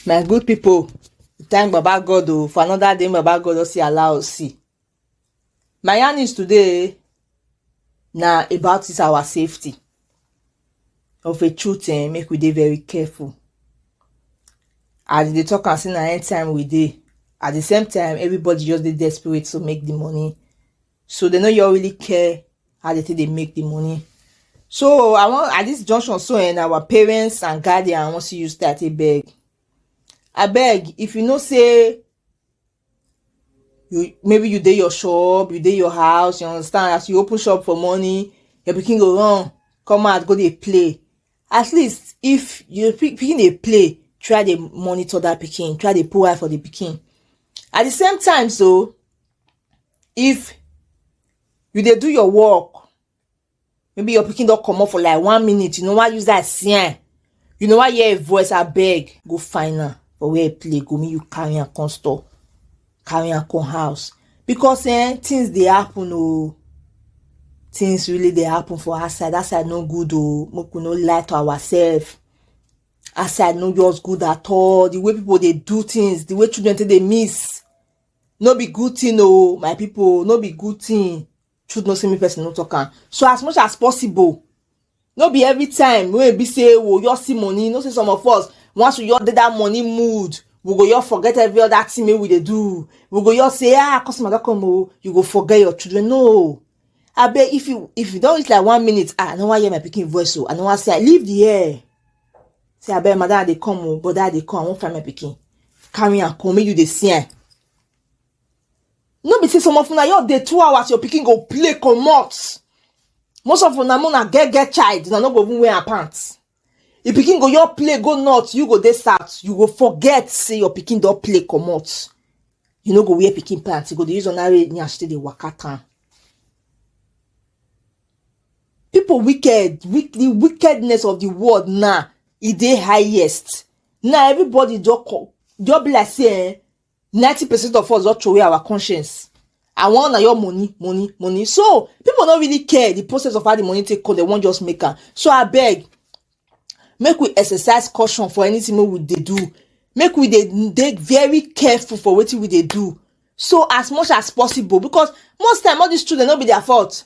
my good people thank baba god o oh, for another day baba god don see allow us see My yarnings today na about this our safety of a truth um make we dey very careful as dey talk am say na end time we dey at the same time everybody just dey desperate to make the money so they no you really care how they take dey make the money so i wan at this junction so and our parents and guardian wan see you start a beg abeg if you know say you maybe you dey your shop you dey your house you understand as you open shop for morning your pikin go run come out go dey play at least if your pikin dey play try dey monitor that pikin try dey put eye for the pikin at the same time so if you dey do your work maybe your pikin don comot for like one minute you know why use that see am you know why hear a voice abeg go find am for where e play go make you carry am come store carry am come house because eh, things dey happen o oh. things really dey happen for outside outside no good o oh. make we no lie to ourselves outside no just good at all the way people dey do things the way children take dey miss no be good thing o oh, my people no be good thing truth no say me person no talk am so as much as possible no be every time wey be say wo your see money no say some of us once we your dey that money mood we go your forget every other thing wey we dey do we go your say ah customer don come o you go forget your children no abeg if you if you don reach like one minute ah i no wan hear my pikin voice o i no wan say i leave the air say abeg madam i dey come o brother i dey come i wan find my pikin carry am come make you dey see am no be say some of una your dey two hours your pikin go play comot most of una una get get child una no go even wear her pants if pikin go your play go north you go dey south you go forget say your pikin don play comot you no go wear pikin pants you go dey use ordinary nyash take dey waka town people wicked with the wickedness of the world now e dey highest now everybody just come just be like say eh ninety percent of us don throw away our conscience I want na your money money money so people no really care the process of how the money take come they wan just make am so I beg, make we exercise caution for anything wey we dey do make we dey dey very careful for wetin we dey do so as much as possible because most time all these children no be their fault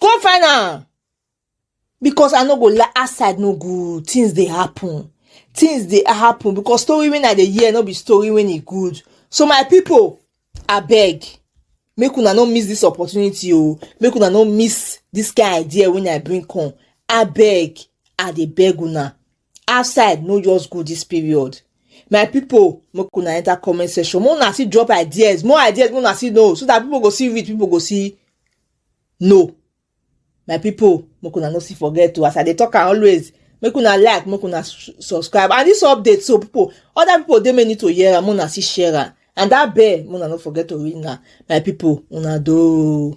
come find am because i no go lie outside no good things dey happen things dey happen because story wey i dey hear no be story wey e good so my people abeg make una no miss this opportunity o oh. make una no miss this kind idea wey i bring come abeg i dey beg una outside no just go this period my people make una enter comment section make una still drop ideas more ideas make una still know so that people go see read people go see no my pipo make una no see forget to as i dey talk am always make una like make una subscribe and this update so pipo other pipo dey may need to hear am make una still share am and that bell make una no forget to ring am my pipo una do.